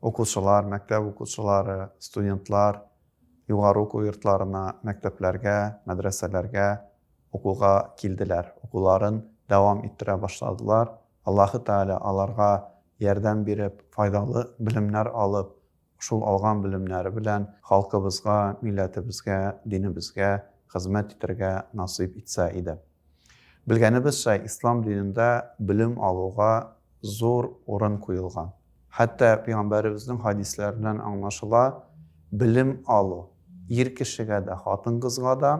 Укучылар, мәктәп укучылары, студентлар югары уку йортларына, мәктәпләргә, мәдрәсәләргә укуга килделәр, укуларын дәвам иттерә башладылар. Аллаһы Тәгалә аларга ярдәм биреп, файдалы белемнәр алып, шул алган белемнәре белән халкыбызга, милләтебезгә, динебезгә хезмәт итәргә насыйп итсә иде. Белгәнебезчә, ислам динендә белем алуга зур урын куелган. Хәтта Пәйгамбәребезнең хәдисләреннән аңлашыла, белем алу ир кешегә дә, хатын-кызга да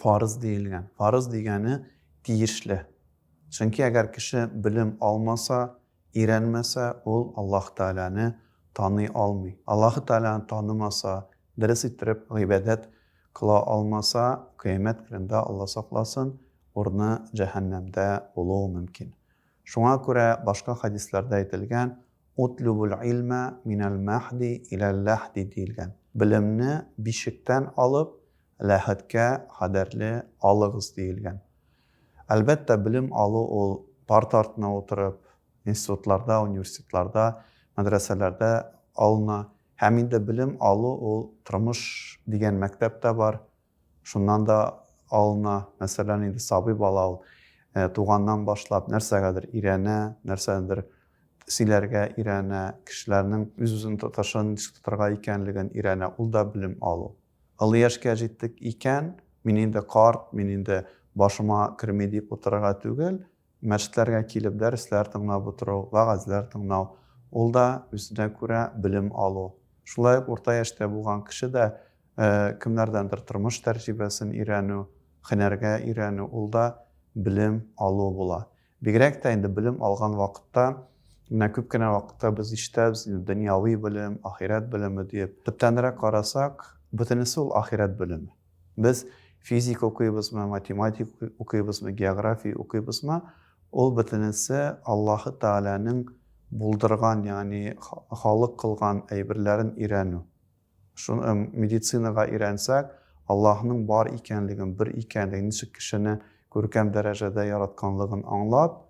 фарыз диелгән. Фарыз дигәне тиешле. Чөнки әгәр кеше белем алмаса, Өйрәнмәсә, ул Аллаһ Тәгаләне таный алмый. Аллаһ Тәгаләне танымаса, дөрес иттереп гыйбадәт кыла алмаса, Кыямәт көнендә, Алла сакласын, урыны җәһәннәмдә булуы мөмкин. Шуңа күрә башка хәдисләрдә әйтелгән, Утлүбул илмә минәл мәһди иләл ләһди диелгән, Белемне бишектән алып, ләһәткә кадәрле алыгыз диелгән. Әлбәттә, белем алу ул парта артына утырып, институтларда, университетларда, мәдрәсәләрдә алына. Һәм инде белем алу ул тормыш дигән мәктәп тә бар, шуннан да алына. Мәсәлән, инде сабый бала ул туганнан башлап нәрсәгәдер өйрәнә, нәрсәдер сөйләргә өйрәнә, кешеләрнең үз-үзен тотышын ничек тотарга икәнлеген өйрәнә, ул да белем алу. Олы яшькә җиттек икән, мин инде карт, мин инде башыма керми дип утырырга түгел, мәчетләргә килеп дәресләр тыңлап утыру, вәгазьләр тыңлау, ул да үзенә күрә белем алу. Шулай ук урта яшьтә булган кеше дә кемнәрдәндер тормыш тәрҗибәсен өйрәнү, һөнәргә өйрәнү, ул да белем алу була. Бигрәк тә инде белем алган вакытта, менә күп кенә вакытта без ишетәбез инде, дөньяви белем, ахирәт белеме диеп. Төптәнрәк карасак, бөтенесе ул ахирәт белеме. Без физика укыйбызмы, математика укыйбызмы, география укыйбызмы, ул бөтенесе Аллаһы Тәгаләнең булдырган, ягъни халык кылган әйберләрен өйрәнү. Шуны медицинага өйрәнсәк, Аллаһның бар икәнлеген, бер икәнлеген, ничек кешене күркәм дәрәҗәдә яратканлыгын аңлап,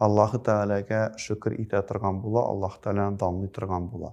Аллаһы Тәгаләгә шөкер итә торган була, Аллаһы Тәгаләне данлый торган була.